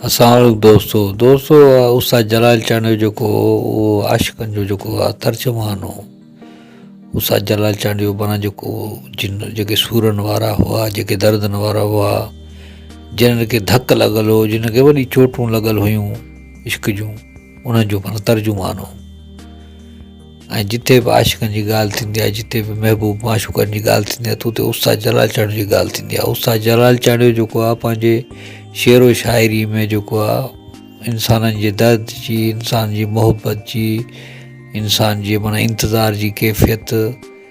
السلام عليڪم دوستو دوستو استاد جلال چانڊيو جيڪو هو اهو عاشقن جو جيڪو هو ترجمان هو استاد جلال چانڊيو مانا جيڪو جن جيڪي سورن وارا هئا جيڪي دردن وارا هئا جنن کي ڌڪ لڳل هو جن کي وڏي چوٽون لڳل هيون عشق جون انهن جو مانا ترجمان هو ۽ جتي به عاشقن جي ڳالهه ٿيندي آهي جتي به محبوب معشوقن جي ڳالهه ٿيندي آهي ته اتي استاد جلال چانڊيو جي ڳالهه ٿيندي آهي استاد جلال چانڊيو جيڪو آهي پنهنجي شعر و شاعري ۾ جيڪو آهي انسانن جي درد جي انسان جي محبت جي انسان جي معنيٰ انتظار جي ڪيفيت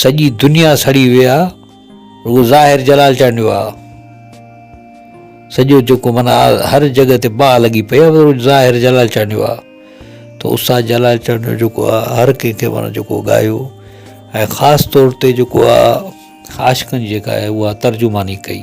سڄي دنيا سڙي وئي آ رڳو ظاهر جلال چانڊيو آ سڄو جيڪو منا هر جڳهه تي باهه لڳي پئي آ ظاهر جلال چانڊيو آ ته استاد جلال چانڊيو جيڪو آ هر ڪنهن کي منا جيڪو ڳايو ۽ خاص طور تي جيڪو آ عاشقن جيڪا آهي اها ترجماني ڪئي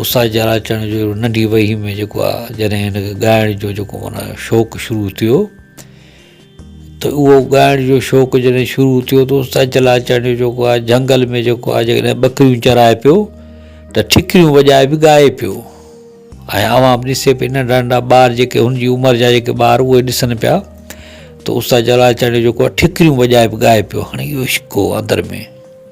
اساجر اچڻ جو ننڍي وهي ۾ جيڪو آ جڏهن هن کي ڳائڻ جو جيڪو معنيٰ شوق شروع ٿيو ته اهو ڳائڻ جو شوق جڏهن شروع ٿيو ته اساجر اچڻ جو جيڪو آ جهنگل ۾ جيڪو آ جيڪڏهن ٻڪريون چرائي پيو ته ٺڪريون وڄائي به ڳائي پيو ۽ اوهان به ڏسي پئي ننڍا ننڍا ٻار جيڪي هن جي عمر جا جيڪي ٻار اهي ڏسن پيا ته اساجر اچڻ جو جيڪو آ ٺڪريون وڄائي به ڳائي پيو هاڻي اهو عشق هو اندر ۾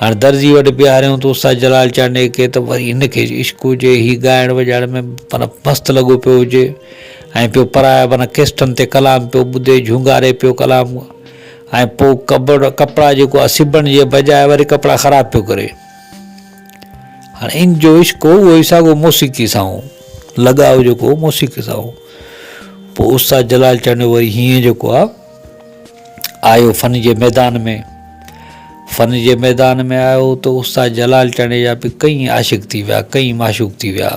هاڻ درزي وٽ بيهاريائون ته استاد جلال چانڊيي کي ته وري هن کي عشق هجي، هي ڳائڻ وڄائڻ ۾ معنيٰ مست لڳو پيو هجي ۽ پيو پرايا معنيٰ ڪيسٽن تي ڪلام پيو ٻڌي، جهونگاري پيو ڪلام ۽ پوء ڪپڙا جيڪو آهي سبڻ جي بجاء وري ڪپڙا خراب پيو ڪري. هاڻ ان جو عشق هو اهو ئي ساڳو موسيقي سان هو، لڳاء جيڪو هو موسيقي سان هو. پوء استاد جلال چانڊيو وري هينئن جيڪو آهي. آيو فن جي ميدان ۾، فن جي ميدان ۾ آيو ته استاد جلال چانڊيجا به ڪئين عاشق ٿي ويا، ڪئين معشوق ٿي ويا.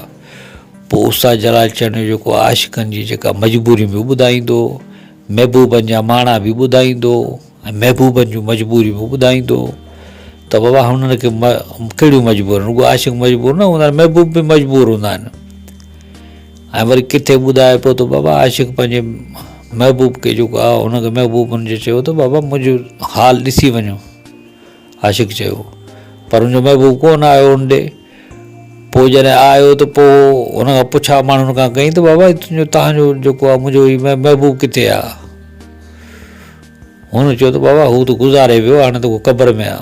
پوء استاد جلال چانڊيجو جيڪو عاشقن جي جيڪا مجبوريون به ٻڌائيندو، محبوبن جا ماڻا به ٻڌائيندو ۽ محبوبن جون مجبوريون به ٻڌائيندو ته بابا هنن کي ڪهڙيون مجبوريون رڳو عاشق مجبور نه هوندا آهن، محبوب به مجبور هوندا آهن. ۽ وري ڪٿي ٻڌائي پيو ته بابا عاشق پنهنجي محبوب کي جيڪو آ ان کي محبوب ان جي چيو ته بابا منهنجو حال ڏسي وڃو عاشق چيو پر ان جو محبوب ڪون آيو ان ڏي پوء جڏهن آيو ته پوء ان کان پڇا ماڻهن کان ڪئي ته بابا تنهنجو تنهنجو جيڪو آ منهنجو هي محبوب ڪٿي آ هن چيو ته بابا هو ته گذاري ويو هاڻي ته هو قبر ۾ آ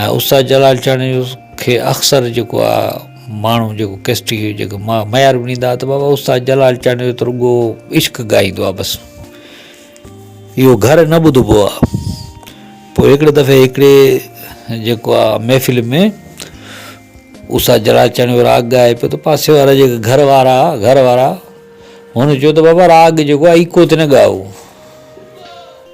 ۽ استاد جلال چاڙهيو کي اڪثر جيڪو آ ماڻهو جيڪو ڪيسٽي جيڪو معيار به ڏيندا ته بابا استاد جلال چاڙهيو ته رڳو عشق ڳائيندو آ بس اهو گهر نه ٻڌبو آ پوء هڪڙي دفعي هڪڙي جيڪو آ محفل ۾ استاد جلال چاڙهيو راڳ ڳائي پيو ته پاسي وارا جيڪي گهر وارا گهر وارا هن چيو ته بابا راڳ جيڪو آ ايڪو تي نه ڳائو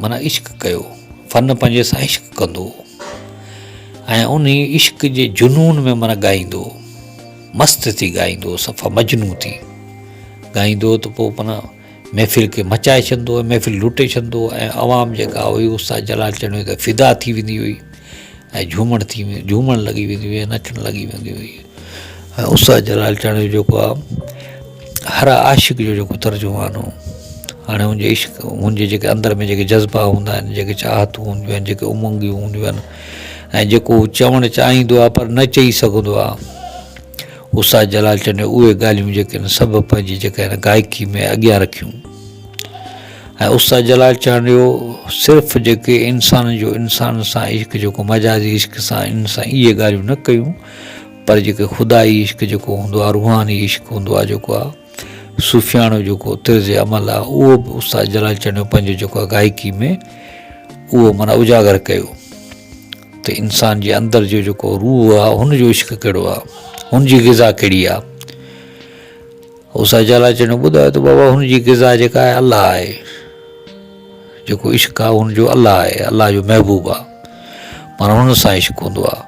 معنيٰ عشق ڪيو، فن پنهنجي سان عشق ڪندو ۽ انهي عشق جي جنون ۾ معنيٰ ڳائيندو مست ٿي ڳائيندو صفا مجنون ٿي ڳائيندو ته پوء معنيٰ محفل کي مچائي ڇڏندو ۽ محفل لٽي ڇڏندو ۽ عوام جيڪا هئي استاد جلال چنڙيو ته فدا ٿي ويندي هئي ۽ جهومڻ ٿي جهومڻ لڳي ويندي هئي نچڻ لڳي ويندي هئي ۽ استاد جلال چانڊيو جو جيڪو آ هر عاشق جو جيڪو ترجمان هو هاڻي هن جي عشق هن جي جيڪي اندر ۾ جيڪي جذبا هوندا آهن جيڪي چاهتون هونديون آهن جيڪي امنگيون هونديون آهن ۽ جيڪو هو چوڻ چاهيندو آهي پر نه چئي سگهندو آهي استاد جلال چانڊيو اهي ڳالهيون جيڪي آهن سڀ پنهنجي جيڪي آهن گائڪي ۾ اڳيان رکيون ۽ استاد جلال چانڊيو صرف جيڪي انسان جو انسان سان عشق جيڪو مجازي عشق سان ان سان اهي ڳالهيون نه ڪيون پر جيڪي خدائي عشق جيڪو هوندو آهي روحاني عشق هوندو آهي جيڪو آهي صوفياڻو جيڪو طرز عمل آهي اهو به استاد جلال چنيو پنهنجو جيڪو آهي گائڪي ۾ اهو مانا اجاگر ڪيو ته انسان جي اندر جو جيڪو روح آهي هن جو عشق کيڙو آهي هن جي غذا کيڙي آهي استاد جلال چنيو ٻڌايو ته بابا هن جي غذا جيڪا آهي الله آهي جيڪو عشق آهي هن جو الله آهي الله جو محبوب آهي مانا هن سان عشق هوندو آهي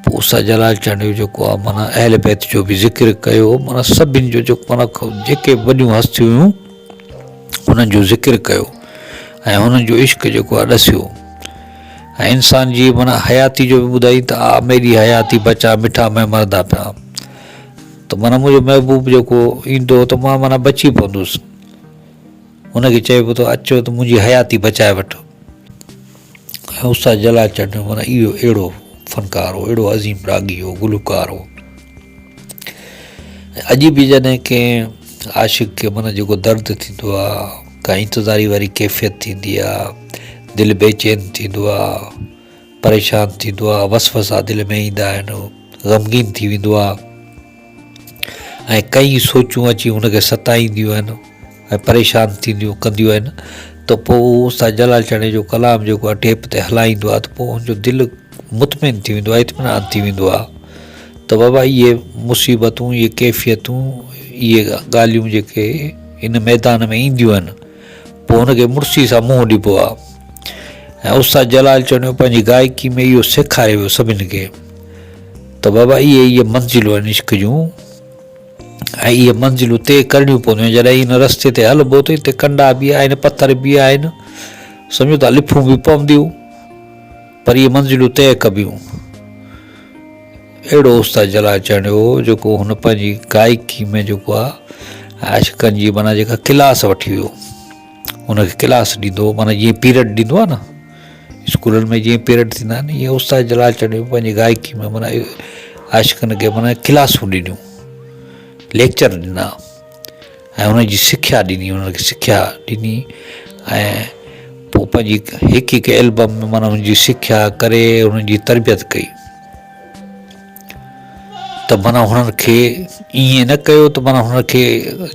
پوء استاد جلال چانڊيو جيڪو آ معنيٰ اهل بيت جو به ذڪر ڪيو معنيٰ سڀن جو جيڪو معنيٰ جيڪي به وڏيون هستيون هيون انهن جو ذڪر ڪيو ۽ هنن جو عشق جيڪو آ ڏسيو ۽ انسان جي معنيٰ حياتي جو به ٻڌائي ته آ ميري حياتي بچا مٺا مئي مردا پيا ته معنيٰ منهنجو محبوب جيڪو ايندو هو ته مان معنيٰ بچي پوندس هن کي چئبو ته اچو ته منهنجي حياتي بچائي وٺ استاد جلال چنڊ معنيٰ اهو اهڙو فنڪار هو اهڙو عظيم راڳي هو گلوڪار هو اڄ به جڏهن ڪنهن عاشق کي من جيڪو درد ٿيندو آهي ڪا انتظاري واري ڪيفيت ٿيندي آهي دل بي چين ٿيندو آهي پريشان ٿيندو آهي وس وسا دل ۾ ايندا آهن غمگين ٿي ويندو آهي ۽ ڪيئي سوچون اچي هن کي ستائينديون آهن ۽ پريشان ٿينديون ڪنديون آهن ته پوء هو استاد جلال چاڙهي جو ڪلام جيڪو آهي ٽيپ تي هلائيندو آهي ته پوء هن جو دل مطمئن ٿي ويندو آهي اطمينان ٿي ويندو آهي ته بابا اهي مصيبتون اهي ڪيفيتون اهي ڳالهيون جيڪي ان ميدان ۾ اينديون آهن پوء هن کي مڙسي سان منهن ڏبو آ ۽ استاد جلال چوڻيو پنهنجي گائڪي ۾ اهو سيکاري ويو سڀن کي ته بابا اهي اهي منزلون آهن عشق جون ۽ اهي منزلون طئي ڪرڻيون پونديون جڏهن هن رستي تي هلبو ته هتي ڪنڊا به آهن پٿر به آهن سمجهو ٿا لفون به پونديون پر اهي منزلون طئي ڪبيون. اهڙو استاد جلال چهني هو جيڪو هن پنهنجي گائڪي ۾ جيڪو آهي عاشقن جي معنيٰ جيڪا ڪلاس وٺي ويو ان کي ڪلاس ڏيندو هو معنيٰ جيئن پيريڊ ڏيندو آهي نه اسڪولن ۾ جيئن پيريڊ ٿيندا آهن ائين استاد جلال چهني پنهنجي گائڪي ۾ معنيٰ عاشقن کي معنيٰ ڪلاسون ڏنيون ليڪچر ڏنا ۽ انهن جي سکيا ڏني انهن کي سکيا ڏني ۽ پوء پنهنجي هڪ هڪ البم ۾ مانا انهن جي سکيا ڪري انهن جي تربيت ڪئي ته مانا هنن کي ائين نه ڪيو ته مانا هنن کي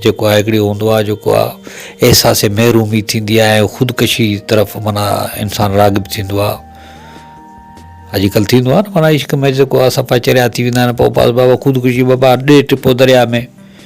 جيڪو آهي هڪڙي هوندو آهي جيڪو آهي احساس محرومي ٿيندي آهي ۽ خودڪشي طرف مانا انسان راغب ٿيندو آهي اڄڪلهه ٿيندو آهي نه مانا عشق ۾ جيڪو آهي سفا چريا ٿي ويندا آهن پوء بس بابا خودڪشي بابا ڏي ٽپو درياء ۾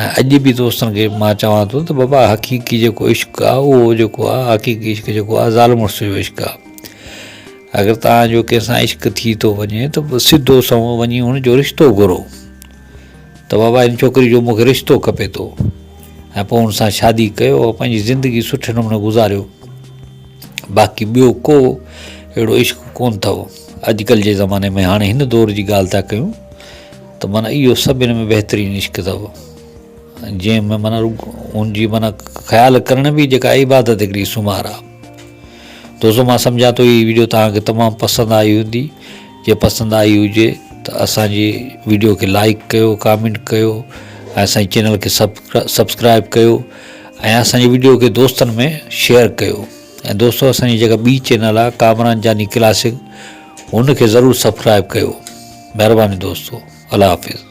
۽ اڄ به دوستن کي مان چوان ٿو ته بابا حقيقي جيڪو عشق آ اهو جيڪو آ حقيقي عشق جيڪو آ زال مڙس جو عشق آ اگر تان جو ڪنهن سان عشق ٿي ٿو وڃي ته سڌو سنئون وڃي ان جو رشتو گهرو ته بابا ان ڇوڪري جو مونکي رشتو کپي ٿو ۽ پوء ان سان شادي ڪيو پنهنجي زندگي سٺي نموني گذاريو باقي ٻيو ڪو اهڙو عشق ڪون اٿو اڄڪلهه جي زماني ۾ هاڻي هن دور جي ڳالهه ٿا ڪيون ته معنيٰ اهو سڀني ۾ بهترين عشق اٿو جنهن ۾ معنيٰ ان جي معنيٰ خيال ڪرڻ به جيڪا عبادت هڪڙي سمار آ دوستو مان سمجهان ٿو هي ويڊيو توهان کي تمام پسند آئي هوندي جي پسند آئي هجي ته اسانجي ويڊيو کي لائڪ ڪيو ڪامينٽ ڪيو ۽ اسانجي چينل کي سبسڪرائب ڪيو ۽ اسانجي ويڊيو کي دوستن ۾ شيئر ڪيو ۽ دوستو اسانجي جيڪا ٻي چينل آ ڪامران جاني ڪلاسڪ ان کي ضرور سبسڪرائب ڪيو مھرباني دوستو الله حافظ.